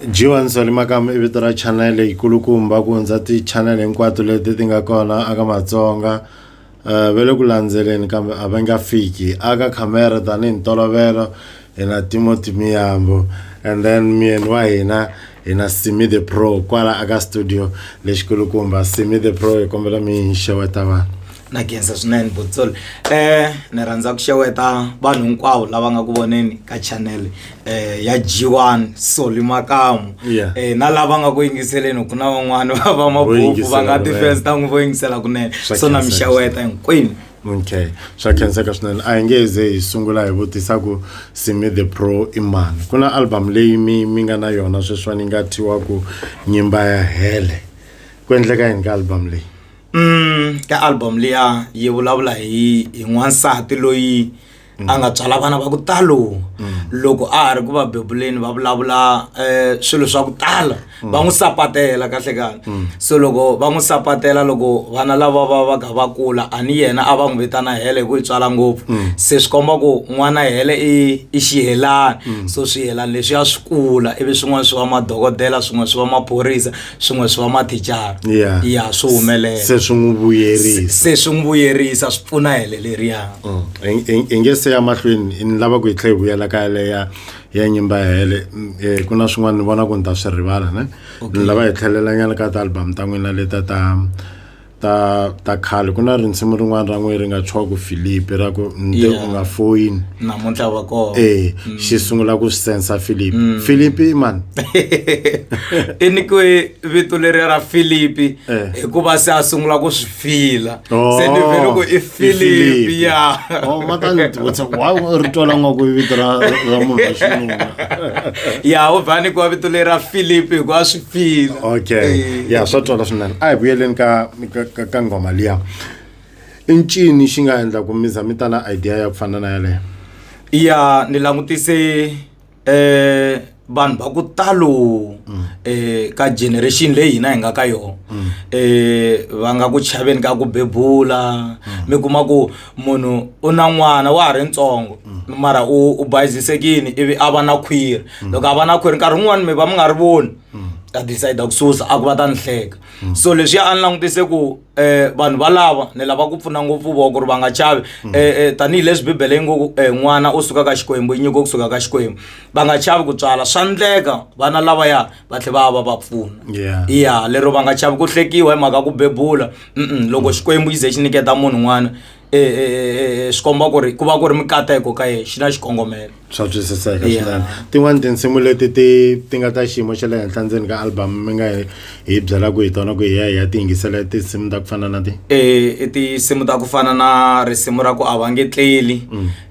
Jiwan Salimakam i vito ra channel yikulukumba ku hundza ti-channel hinkwato leti ti nga kona aka Matsonga um va le ku landzeleni kambe a va nga fiki aka khamera tanihi ntolovelo hina Timothy Miyambo and then myeni wa hina hina Simi the Pro kwala aka studio lexikulukumba Simi the Pro hi kombela mi hi xeweta vanhu na genza swinene botsol eh ni rhandza ku xeweta vanhu hinkwavo lava nga ku voneni ka channel eh ya G1 Soli Makamu Yeah. eh na lava nga ku yingiseleni ku na van'wana va va mabuku va nga yingisela ti fans kunene. ta n'wi vo yingisela kunene Swa so na mi khensa, xeweta hinkwenu Okay swa khenseka swinene a hi nge ze hi sungula hi vutisa ku simi the pro i mani ku na album leyi mi mi nga na yona sweswiwani yi nga thyiwa ku nyimba ya hele ku endleka yini ka album leyi mm ka album liya yi vulavula hi hi n'wansati loyi a nga tswala vana va ku talo loko a ha ri ku va bebuleni va vulavula um swilo swa ku tala va n'wi sapatela kahle kahle so loko va n'wi sapatela loko vana lava va va ka va kula a ni yena a va n'wi vitana hele hi ku yi tswala ngopfu se swi komba ku n'wana hele i i xihelani so swihelani leswiya swi kula ivi swin'wana swi va madokodela swin'wana swi va maphorisa swin'we swi va mathicara Yeah. ya swi humelela se swi n'wi vuyerisa se swi n'wi vuyerisa swi pfuna hele leriya Mm. Ing- ing- inge se ya mahlweni ni lava ku hi tlhe hi vuyela ka yale ya ya nyimba ya hele Mm, eh, ku na swin'wana ni vona ku ni ta swi rivala ne ni lava hi tlhelelanyana ka tialbum ta n'wina leta ta ta ta khale ku na rinsimu rin'wana ra n'we ri nga tshiwa ku philipi ra ku nde u nga foyini namuntlha va kona ee eh, mm. xi sungula ku swi sensa philipi mm. philipi mani i nyikiwe vito leriya ra philipi eh. hikuva se a sungula ku swi fila oh, se ni vele ku i philipi ya oh, matanivutisa wa ri twala nga ku vito ra ra munhu wa xinuna ya u va nyikiwa vito leri ra philipi hikuva swi feel okay ya swa twala swinene a hi vuyeleni ka ka- ka ngoma liya i ncini xi nga endla ku mi za mi ta na idea ya ku fana na yaleyo ya ni langutise eh vanhu va ku talo eh ka generation leyi hina hi nga ka yona eh va nga ku chaveni ka ku bebula mi kuma ku munhu u na n'wana wa ha ri ntsongo mara u u bayizisekini ivi a va na khwiri loko a va na khwiri nkarhi wun'wani mi va mi nga ri voni ta decide ku susa a ku va ta ni hleka so leswi a ni langutise ku um vanhu valava ni lava ku pfuna ngopfu vo ku ri va nga chavi um tanihileswi bibele yi ngo ku um n'wana u suka ka xikwembu yi nyiko kusuka ka xikwembu va nga chavi ku tswala swa ndleka vana lavaya va tlhe va va va pfuna Yeah. ya lero va nga chavi ku hlekiwa hi mhaka ya ku bebula Mm-mm, loko xikwembu yi ze xi niketa munhu n'wana eh, eh, eh, eh, swi komba ku ri ku va ku ri mikateko ka yena xi na xikongomelo swa twisiseka Yeah. swinene tin'wani tinsimu leti ti ti nga ta xiyimo xa le henhla ndzeni ka album mi nga hi- hi byelaka hi tona ku hi ya hi ya ti yingisela tinsimu ta ku fana na ti Eh, i tinsimu ta ku fana na risimu ra ku a va nge tleli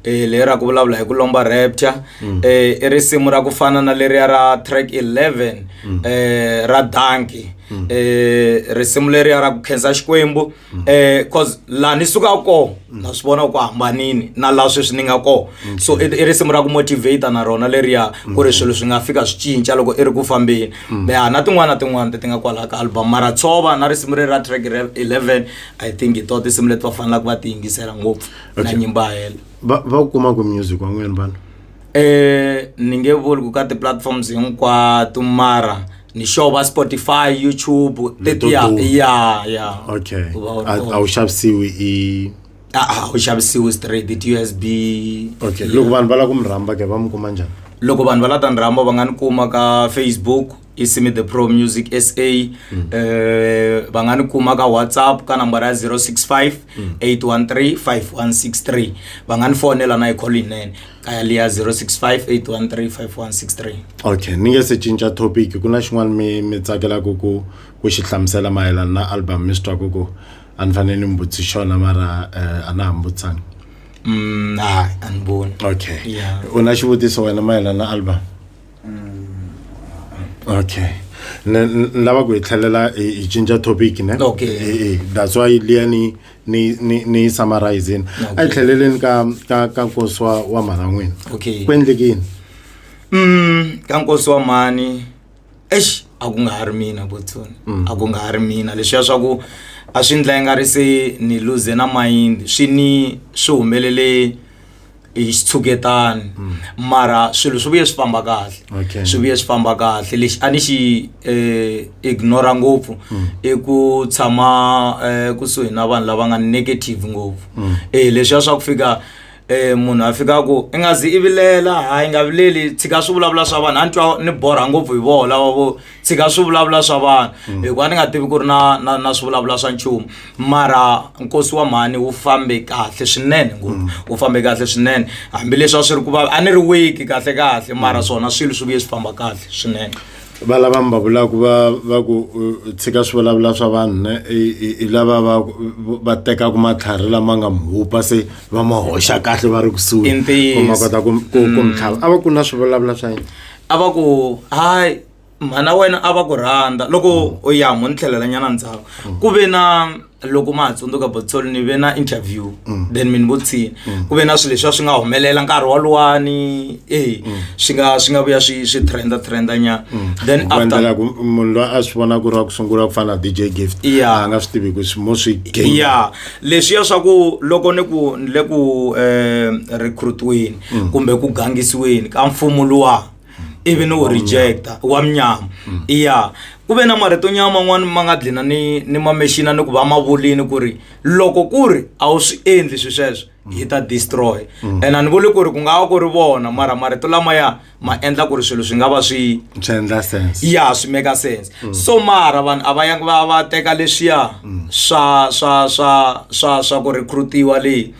e leri ra ku vulavula hi ku lomba rapture mm. eh, i risimu ra ku fana na leriya ra track 11 mm. eh, ra danki mm. eh, risimu leriya ra ku khensa xikwembu mm. eh, cause laha ni suka kona mm. na swi vona ku hambanini na laha sweswi ni nga kona mm. so i, i risimu ra ku motivata na rona leriya mm. ku ri mm. swilo swi nga fika swi cinca loko i ri ku fambeni mm. ya na tin'wana na tin'wana ti ti nga kwalaha ka album mara tshova na risimu leri ra track 11 i think hi to tinsimu leti va fanelaka va ti yingisela ngopfu na Okay. nyimbo ya hela va va ku kuma ku music wan'wini vanhu Eh, ni nge vuli ku ka ti-platforms hinkwato mara ni sure va spotify youtube Leto ya duma. ya ya okay U va u ri a kona. a wu xavisiwi i Ah, ah, u xavisiwi straight it usb okay loko vanhu va lava ku mi rhamba ke va mi kuma njhani loko vanhu va la ta ni rhamba va nga ni kuma ka facebook isimi the pro music sa mm. uh, va nga ni kuma ka whatsapp ka nambara ya 065 813 5163 va nga ni fonela na hi call yinene ka yali ya 065 813 5163 okay ni nge se cinca topic ku na xin'wana mi mi tsakelaka ku ku xi hlamusela mayelana na album mi swi twa ku ku a ni fanele ni mi vutisi xona mara uh, a na ha mi vutisanga mm, hayi a ni voni okay yeah. u na xivutiso wena mayelana na album okay ne n- ni lava ku hi tlhelela hi hi cinca topic ne Okay. Eh, eh, that's why liya ni ni ni ni yi summarizini a hi tlheleleni ka ka ka nkosi wa wa mhana n'wina okay ku endlekini Mm, ka nkosi wa mhani eish a ku nga ha ri mina botsoni a ku nga ha ri mina leswiya swa ku a swi ndla i nga ri se ni luze na mayindi swi ni swi humelele hi xitshuketani mm. mara swilo swi vuye swi famba kahle swi vuye swi famba kahle lexi a ni xi eh, ignora ngopfu mm. i ku tshama eh, kusuhi na vanhu lava nga negative ngopfu mm. eh, leswiya swa ku fika eh munhu a fika ku i nga zi i vilela hayi nga vileli tshika swi vulavula swa vanhu a ni twa ni borha ngopfu hi voho lava vo tshika swivulavula swa vanhu mm. hikuva ni nga tivi ku ri na na na swivulavula swa nchumu mara nkosi wa mhani wu fambe kahle swinene ngopfu mm. wu fambe kahle swinene hambileswi a swi ri ku va a ni ri wiki kahle kahle mm. mara swona swilo swi vuye swi famba kahle swinene va lava mi va vulaka va va ku uh, tshika swivulavula swa vanhu ne hi lava va va tekaka matlhari lama nga mhupa se va ma hoxa kahle va ri kusuhi ku ma kota ku ku mi tlhava a va ku na swivulavula swa yini a va ku hayi mhana wena a va ku rhandza loko u ya mo ni tlhelelanyana ndzhaku ku ve na loko ma ha tsundzuka botsol ni ve na interview then mi ni vutshini ku ve na swilo leswi a swi nga humelela nkarhi woluwani e swi nga swi nga vuya swi swi trenda trenda nyana then ku after endlela ku munhu loyi a swi vona ku ri wa ku sungula ku fana na dj gift Yeah. a nga swi tivi ku swi- mo swi gain ya leswiya swa ku loko ni ku ni le ku um recruitweni mm. kumbe ku gangisiweni ka mfumo luwa ivi ni wu rejecta wa munyama mm. iya ku ve na marito nyama man'wani ma nga dlina ni ni mamexina ni ku va ma vulini ku ri loko ku ri a wu swi endli swi sweswo yi ta destroy mm. and a ni vuli ku ri ku nga va ku ri vona mara marito lamaya ma endla ku ri swilo swi nga va swi ya swi make sense mm. so mara vanhu a va yangi va va teka leswiya mm. swa swa swa swa swa ku recrutiwa leyi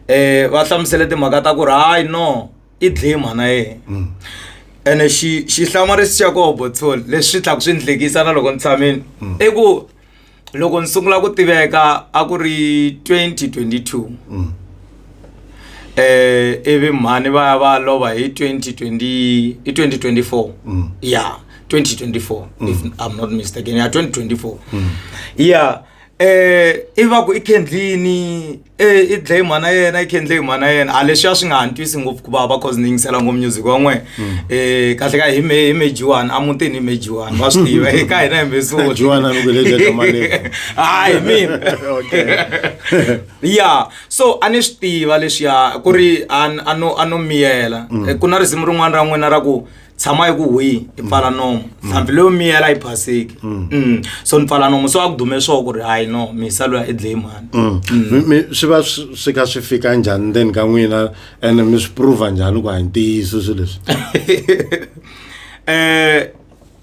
um va hlamusele timhaka ta ku ri hayi no i dlaye mhana yena mm. ene xihlamurisi xa koho botsol leswi tlhaku swi ndlekisa na loko ni tshamini mm. i ku loko ni sungula ku tiveka a ku ri 2022 um mm. eh, ivi mhani va ya va lova hi 2020 hi 2024 ya 2024 if i'm not mistaken ya 2024 ya um ivi va ku i kendlini i dlaye mhana yena i kendlaye mhana yena a leswiya swi nga ha ntwisi ngopfu ku vava cause ni yingisela ngopfu music wa n'wena um kahle ka hi me hi me jiwani a mutini hi me jiwani va swi tiva hi ka hina hi mesuhayi mina ya so a ni swi tiva leswiya ku ri a no a no miyela mm. ku na risimu rin'wana ra n'wina ra ku tshama yi ku hwihi i pfala nomo nhlampfi leyo miyela yi phaseki Mm. so ni pfala nomo so a ku dume swo ku ri hayi no misa loya i dlayi mhani Mm. Mi- mi- swi va swi swi kha swi fika njhani ndzeni ka n'wina ene mi swi prova njhani ku hayi ntiyiso swilo leswi um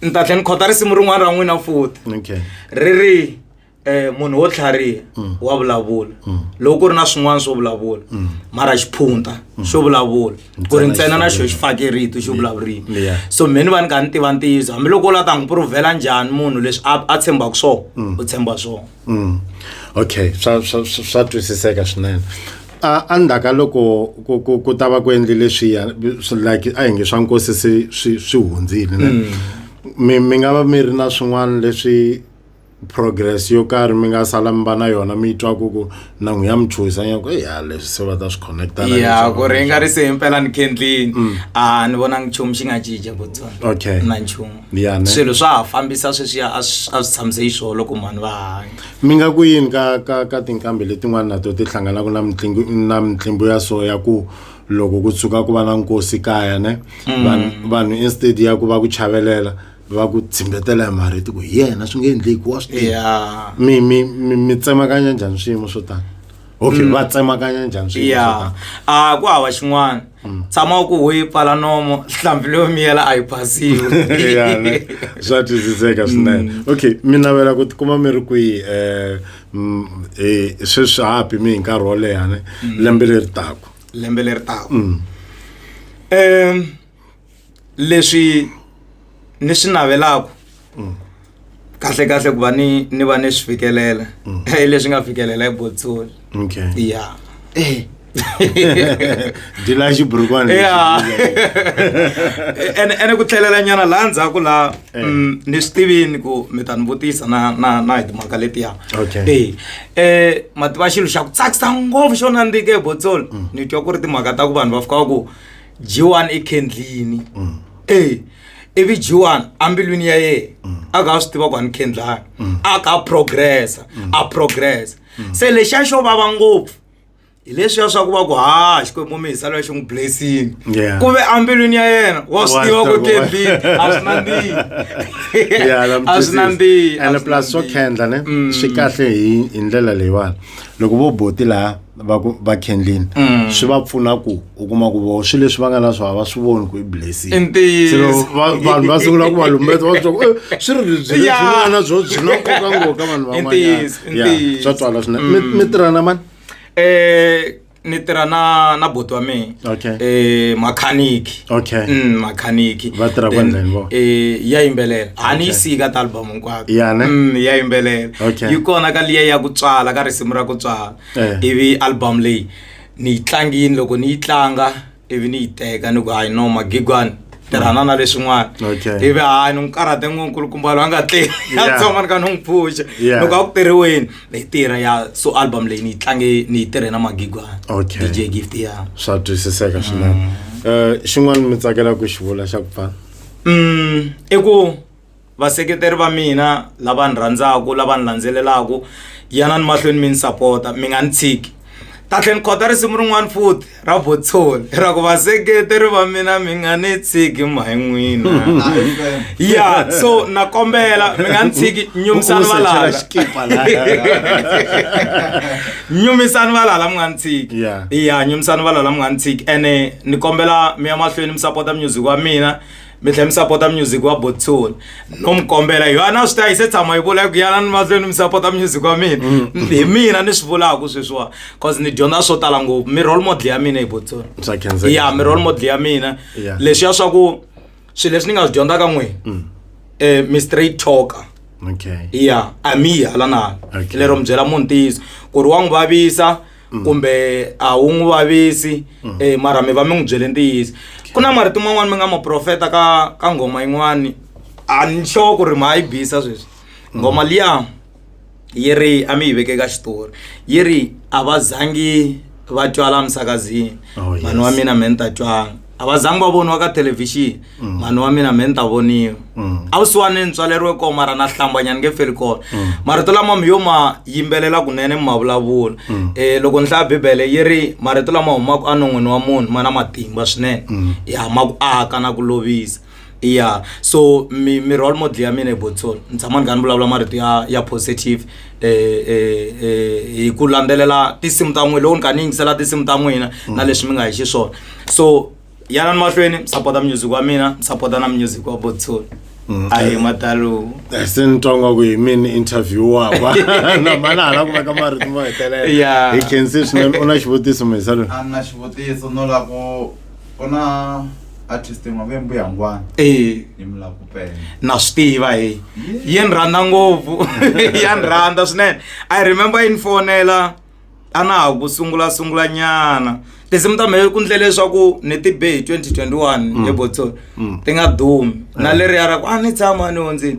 ni ta tlhe ni khota risimu rin'wana ra n'wina futi okay ri ri eh munhu wo tlhariha mm. wa vulavula mm. loko ku ri na swin'wana swo vulavula mm. mara xiphunta xo vulavula ku ri ntsena na xo xi fake rito xo vulavurini so me ni va ni kha ni tiva ntiyiso hambiloko u la ta n'wi provhela njhani munhu leswi a tshembaka swona u tshemba swona okay swa swa swa twisiseka swinene a a ndzhaku ka loko ku ku ku ta va ku endli leswiya like a hi nge swa nkosi swi swi hundzile ne mi mi nga va mi ri na swin'wana leswi progress yo karhi mi nga sala mi va na yona mi twa ku ku na n'wi ya mi chuhisa nyako e ya leswi se va ta swi connecta ya ku ri nga ri se himpela ni kendlini mm. a ni vonangi nchumu xi nga cinca ku tsona okay na nchumu swilo swa ha fambisa sweswiya a swi tshamise yi swolo ku mhani va hanya mi nga ku yini ka ka ka tinkambi letin'wana na to ti hlanganaka na mitlingu na mitlimbo ya so ya ku loko ku tshuka ku va na nkosi kaya ne mm. vanhu instead ya ku va ku chavelela mm. va ku tshimbetela hi marito ku hi yena swi nge endleki wa swi tiva ya mi mi mi mi tsemakanya njhani swiyimo swo tani okay va tsemakanya njhani swiyimo swo ya tani a ku hava xin'wana tshama u ku hu yi pfala nomo hlambi leyo miyela a yi phasiwi Ya, ne. swa twisiseka swinene okay mi navela ku tikuma mi ri kwihi um sweswi hapi mi hi nkarhi wo leha ne lembe leri taku lembe leri taka um leswi ni swi navelaka mm. kahle kahle ku va ni ni va ni swi fikelela mm. hi leswi nga fikelela hi botsoli okay ya eh dila xiburukwana ene ene ku tlhelela nyana laha ndzhaku laha eh. mm, ni swi tivini ku mi ta ni vutisa na na na hi timhaka letiya e um mativa xilo xa ku tsakisa ngopfu xo nandzike botsol mm. ni twa ku ri timhaka ta ku vanhu va fika va ku G1 ekhendlini mm. eh ivi G1 ambilwini ya yena mm. a ka swi tiva ku ani khendlani mm. a ka progressa a progressa se lexi a xo vava ngopfu hi leswiya swa ku va ku ha xikwembu mi hisa loya xi n'wi blessini ku ve ambilwini ya yena wa swi tiva ku kembi a swi nandzihi a swi nandzihi and plus swo khendla ne swi kahle hi hi ndlela leyiwani loko vo boti laha va ku va kendlini Mm. swi va pfuna ku u kuma ku vo swilo leswi va nga na swona va swi voni ku i blessing I ntiyiso. Se loko va- vanhu va sungula ku va lumbeta va swa ku "Eh, swi ri lebyi leswi Yeah. mi nga na byo byi na nkoka ngoka vanhu I ntiyiso, i van'wanyana ntiyiso. Ya, swa twala swinene Mi- mi tirhana mani Eh, ni tirha na na boti wa mina Okay. eh makhaniki Okay. mm, makhaniki Va tirha Then, kwendleni vo? eh ya yimbelela a ni yi Okay. siyi ka ta album hinkwayo Ya ne? mm, ya yimbelela Okay. yi kona ka liya ya ku tswala ka risimu ra ku tswala eh. ivi album leyi ni yi tlangini loko ni yi tlanga ivi ni yi teka ni ku hayi no magigwani tirhana na leswin'wana ivi hayi ni n'wi karhate nkulukumba loyi a nga tleli a tsoma ni ka ni n'wi pfuxa loko a ku tirhiweni ni tirha ya so album leyi ni yi tlange ni yi tirhe na magigwani dj gift ya swa twisiseka swinene um xin'wana mi tsakelaka ku xi vula xa ku pfana um i ku vaseketeri va mina lava ni rhandzaka lava ni landzelelaka yanani mahlweni mi ni sapota mi nga ni tshiki kahle ni khota risimu rin'wana futhi ra votsholi ra ku vaseketeri va mina mi nga ni tshiki mhayi n'wina ya so na kombela mi nga ni tshiki nyumisani valala nyumisani valala mi nga ni tshiki ya nyumisani valala mi nga ni tshiki ene ni kombela mi ya mahlweni mi sapota music wa mina mi tlhela mi sapota music wa botsoni no mi kombela hi yona swi ta yi se tshama yi vula ku yana ni mahlweni mi sapota music wa mina mm. hi mina ni swi vulaka sweswiwani cause ni dyondza swo tala ngopfu mi role model ya mina hi botsoni ya mi role model ya mina leswi ya swa ku swilo leswi ni nga swi dyondza ka n'wini um mi straight talker ya a mi yi hala na hala lero mi byela munhu ntiyiso ku ri wa n'wi vavisa okay. mm. kumbe a wu n'wi vavisi mm. e mara mi va mi n'wi byele ntiyiso ku na marito man'wani mi nga maprofeta ka ka nghoma yin'wani a ni sure ku ri ma yi bisa sweswi mm. nghoma liya yi ri a mi yi veke ka xitori yi ri a va zangi va tywala misakazini oh, vanhu va mina me ni ta tywanga a va zangi va voniwa ka thelevhixini mm. mhani wa mina me ni ta voniwa mm. a vusiwani ni tswaleriwe kona mara na hlambanyana nge feli kona mm. marito lama mi yo ma yimbelela kunene mi ma vulavula um loko ni hlaya bibele yi ri marito lama humaka enon'wini wa munhu ma na matimba swinene ya ma ku aka na ku lovisa ya so mi mi role model ya mina hi botsol ni tshama ni kha ni vulavula marito ya ya positive eh, eh, eh, hi ku landzelela tinsimu ta n'wina loko ni kha ni yingisela tinsimu ta n'wina na leswi mi nga hi xiswona so yanani mahlweni mi sapota music wa mina mi sapota na music wa botsol a hi matalo Eh, se ni twa ngaku hi mini interview wakwa na mana hala ku veka marito mo hetelela Yeah. hi khensile swinene u na xivutiso mhesa loyi a ni na xivutiso no lava ku ku na artist yin'wana ve mbuyangwana e ni mi lava ku pena na swi tiva he yi ni rhandza ngopfu ya ni rhandza swinene i remember yi ni fonela a na ha ku sungula sungula nyana tinsimu ta mehe ku ndle leswaku ni ti be hi 2021 ebotsoni ti nga dumi na leriya ra ku a ni tshama ni hundzini